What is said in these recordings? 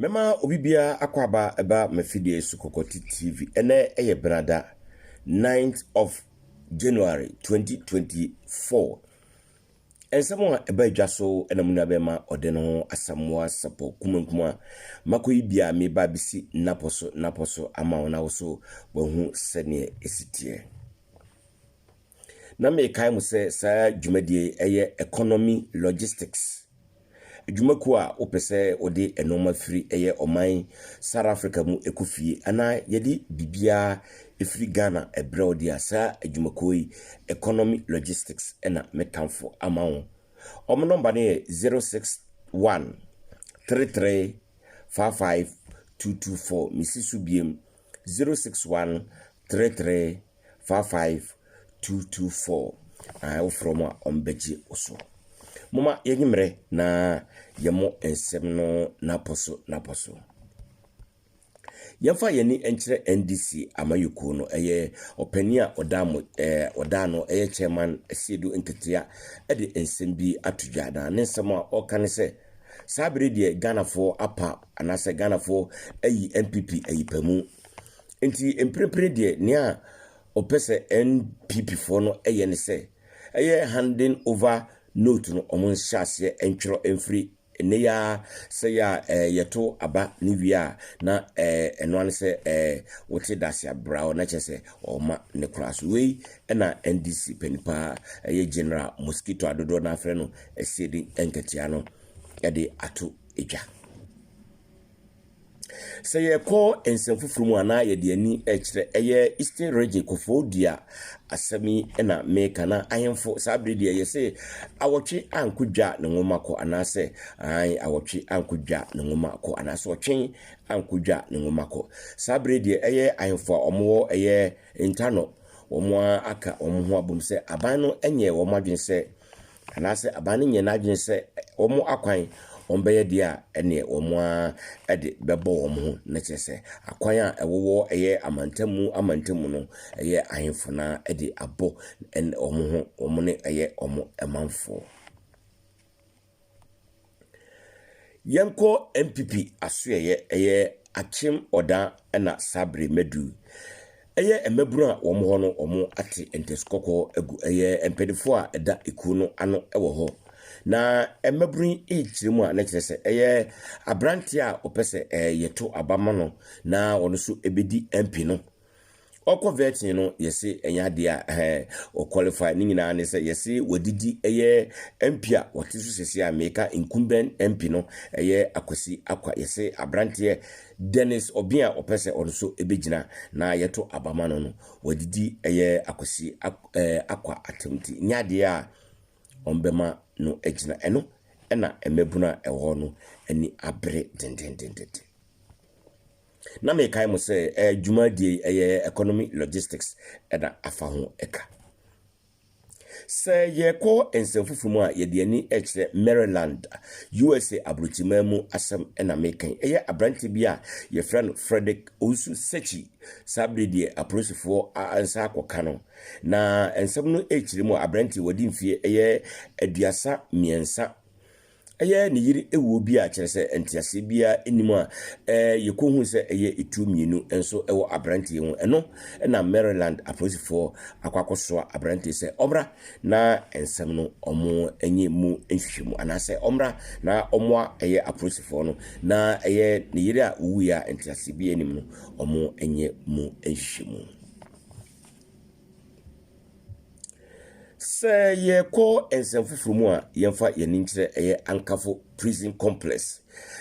Mɛma obi biara akɔaba ɛba m'afidie so Kɔkɔti TV. Ɛnɛ yɛ Benada, 9th of January 2024. Nsɛm a ɛba adwa so na mo nua bɛma ɔde no ho asamoa sapɔ kumankuma a makɔyi bi a meba bɛsi napɔ so napɔ so ama wo na wo so wahu sɛdeɛ ɛsi teɛ. Na mekae mo sɛ saa dwumadie yi yɛ economy logistics adwuma kuo a wopɛ sɛ wode nnoɔma firi ɛyɛ ɔman South Africa mu ɛkɔ fie anaa yɛde biribiara ɛfiri Ghana ɛbrɛ wo deɛ a saa adwuma kuo yi economy logistics ɛna me tamfo ama wo wɔn nɔmba no yɛ 061 33 55 224 mesi so biem Zero six one three three four five two two four a wofrɛ wɔn a wɔbɛgye wo so. Moma yɛnyi mmerɛ na yɛn mo nsɛm no n'apɔ so n'apɔ so. Yɛmfa yɛn ani nkyerɛ NDC amayɛkuo no ɛyɛ ɔpanin a ɔda mo ɛɛ ɔda no ɛyɛ chairman Asiedu Nketea ɛde nsɛm bi ato dwa na ne nsɛm a ɔka ne sɛ saa bere deɛ Ghanafoɔ apa Anaasɛ Ghanafoɔ ayi NPP ayi pamu. Nti mprepre deɛ nea ɔpɛ sɛ NPP foɔ no yɛ ne sɛ, ɛyɛ handing over note no wɔn nhyɛ aseɛ ntwerɛ mfiri nnɛ yi ara sɛ yɛ a ɛɛ yɛto aba ne wie a na ɛɛ ɛno ara ne sɛ ɛɛ wote dase abrao na kyerɛ sɛ ɔma ne koraa so wei ɛna NDC panin paa ɛyɛ General Mosquito a dodoɔ no afrɛ no asiedin nkatia no ɛde ato edwa. Sɛ yɛkɔ nsɛm fofor mu anaa yɛdze ani kyerɛ ɛyɛ Eastern Region Kɔfoɔ Dua asɛm yi na meka na ahemfo saa bere deɛ yɛse awɔtwe anko dwa ne nwoma kɔ anaasɛ ae awɔtwe anko dwa ne nwoma kɔ anaasɛ ɔtwen anko dwa ne nwoma kɔ. Saa bere deɛ ɛyɛ ahemfo a wɔwɔ ɛyɛ ntano wɔn aka wɔn ho abom sɛ aban no nyɛ wɔn adwene sɛ Anaasɛ aban no nyɛ n'adwene sɛ wɔn akwan wɔn bɛyɛ deɛ a ɛneɛ wɔn ara de bɛbɔ wɔn ho na kyerɛ sɛ akwan a ɛwowɔ ɛyɛ amantamu amantamu no ɛyɛ ahemfo na ɛde abɔ wɔn ho wɔn ne ɛyɛ wɔn manfoɔ. Yɛnkɔ NPP asoɛeɛ, ɛyɛ Akyem Ɔda na saa bere madu. Ɛyɛ mmabunu a wɔn hɔ no wɔn ate ntɛsi kɔkɔɔ agu. Ɛyɛ mpaninfoɔ a ɛda ekuo no ano wɔ hɔ. Na mmabunu yi rekyerɛ mu a na kyerɛ sɛ ɛyɛ aberanteɛ a ɔpɛ sɛ ɛɛ yɛto aba ma no na ɔno nso ɛbɛdi MP no. Ɔkɔ vetting no yɛse ɛnyɛ adeɛ a ɛhɛn o qualify ne nyinaa ne sɛ yɛse wadidi ɛyɛ MP a ɔte so sɛsi a meka incumbent MP no ɛyɛ Akwasi Akwa yɛse abranteɛ Dennis Obeng a ɔpɛ sɛ ɔno nso ɛbɛgyina na yɛto aba ma no no wadidi ɛyɛ Akwasi Akwa atam ti nyɛ adeɛ a ɔmbɛma no agyina ɛno ɛna mmabunu a ɛwɔ hɔ no ani abere dendendendenden. Na mekae mo sɛ ɛɛ dwumadie yi ɛyɛ economy logistics ɛna afa ho ɛka. Sɛ yɛkɔ nsɛm fufuo mu a yɛde ani ɛkyerɛ Maryland, USA abrokyiman mu asɛm ɛna meka yi. Ɛyɛ abranteɛ bi a yɛfrɛ no Frederick Owusu Sekyi, saa bere deɛ apolisifoɔ nsa akɔ ka no. Na nsɛm no ɛkyerɛ mu a abranteɛ wadi mfeɛ ɛyɛ aduasa mmiɛnsa. Ɛyɛ ne yere wuo bi a kyerɛ sɛ nteaseɛ biara nnim a yɛkɔhui sɛ ɛyɛ etuo mmienu nso wɔ aberanteɛ yi ho. Ɛno na Maryland apolisifoɔ akɔ akɔsoa aberanteɛ sɛ ɔmmra na nsɛm no wɔnyɛ mu nhwehwɛmu anaasɛ ɔmmra na ɔmmoa ɛyɛ apolisifoɔ no na ɛyɛ ne yere a owuiɛ a nteaseɛ biara nnim no wɔnyɛ mu nhwehwɛmu. Sɛ yɛkɔ nsɛm foforo mu a, yɛmfa yɛn ani nkyerɛ ɛyɛ Ankafo Prison Complex,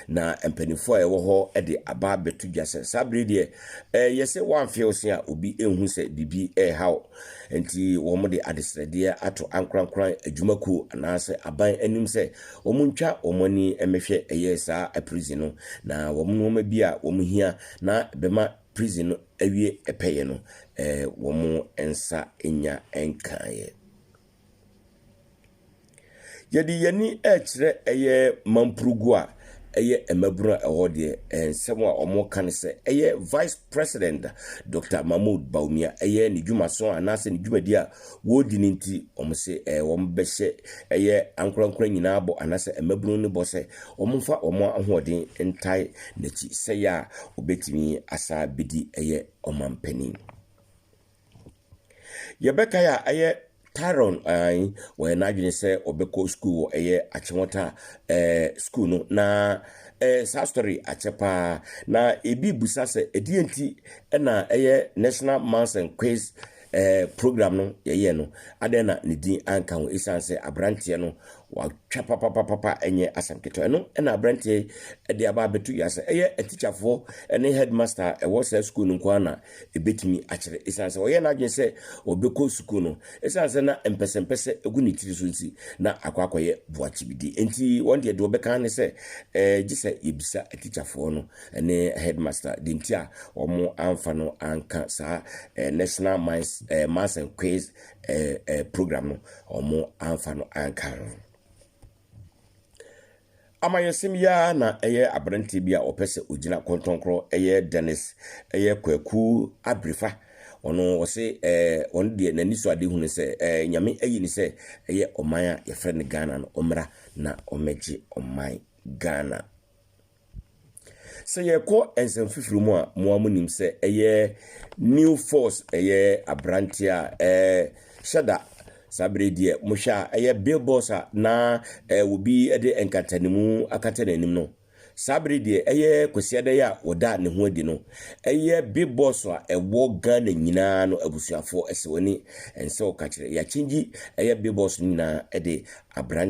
na mpanyimfo a ɛwɔ hɔ de aba abɛto dwa sɛ saa bere deɛ ɛyɛ sɛ wɔamfew se a obi nhu sɛ biribi rehaw. Enti wɔde adesrɛdeɛ ato ankorankoran adwumakuo anaasɛ aban anim sɛ wɔntwa wɔn ani mmɛhwɛ ɛyɛ saa prison no na wɔn nneɛma bi a wɔhia na ɛbɛma prison no awie pɛyɛ no, eh, wɔn nsa nya nkaeɛ. Yɛde yɛn ani rekyerɛ ɛyɛ Mampurugu a ɛyɛ mmabunu a ɛwɔ deɛ, eh, nsɛm a wɔka no sɛ ɛyɛ Vice President Dr. Mahmoud Bawumia ɛyɛ ne dwumaso anaasɛ ne dwumadi a Wɔdi no nti, wɔse wɔbɛhyɛ ɛyɛ ankorankora nyinaa bɔ anaasɛ mmabunu no bɔ sɛ wɔmfa wɔn ahoɔden ntae n'akyi sɛ ɛyɛ a ɔbɛtumi asan bɛdi ɛyɛ ɔmanpanin. Yɛbɛkae a ɛyɛ Tyrone Ain wɔyɛ n'adwene sɛ ɔbɛkɔ sukuu wɔ ɛyɛ Akyewɔta ɛɛ sukuu no na ɛɛ saa story akyɛ paa na ebi busa sɛ ɛdeɛ nti ɛna ɛyɛ National Maths and Quiz Ɛɛ, program no yɛyɛɛ no, adɛn na ne din anka ho? Esiane sɛ aberanteɛ no watwa papapapapa nyɛ asɛm ketewa. Ɛno na aberanteɛ yi de aba abɛto dwa sɛ ɛyɛ atikyafoɔ ne headmaster a ɛwɔ saa sukuu no nko ara na ɛbɛtumi akyerɛ. Esiane sɛ ɔyɛɛ n'adwene sɛ ɔbɛkɔ sukuu no, esiane sɛ na mpɛsɛmpɛsɛ gu ne tiri so nti, na akɔ akɔyɛ boakyibidie. Enti wɔn deɛ deɛ wɔbɛka ara ne sɛ, ɛɛ, gye sɛ yɛbisa atikyafoɔ no ne headmaster deɛ nti a wɔn amfa no anka saa eh, national mines eh, mass and quiz eh, eh, program no wɔn amfa no anka ho amanyɔsɛm yi ara na ɛyɛ aberante bi a ɔpɛ sɛ ɔgyina kɔntɔnkorɔ ɛyɛ dennis ɛyɛ kwaku abirifa ɔno ɔse ɛɛ ɔno deɛ n'ani so ade hunu sɛ ɛɛ nyame ayi ne sɛ ɛyɛ ɔman a yɛfrɛ no ghana no ɔmmra na ɔmmɛgye ɔman ghana Sɛ yɛkɔ nsɛm foforo mu a, mo ara monim sɛ ɛyɛ New Force, ɛyɛ aberanteɛ a ɛhyɛ da saa berɛ deɛ mohwɛ a ɛyɛ billboards a na obi de nkatanimu akata n'anim no saa bere deɛ ɛyɛ Kwesi Adɛyɛ a wɔda ne ho adi no ɛyɛ billboards a ɛwɔ Ghana nyinaa no abusuafoɔ ɛsɛ w'ani ɛnsɛ ɔka kyerɛ yɛakyengye ɛyɛ billboards no nyinaa ɛde aberante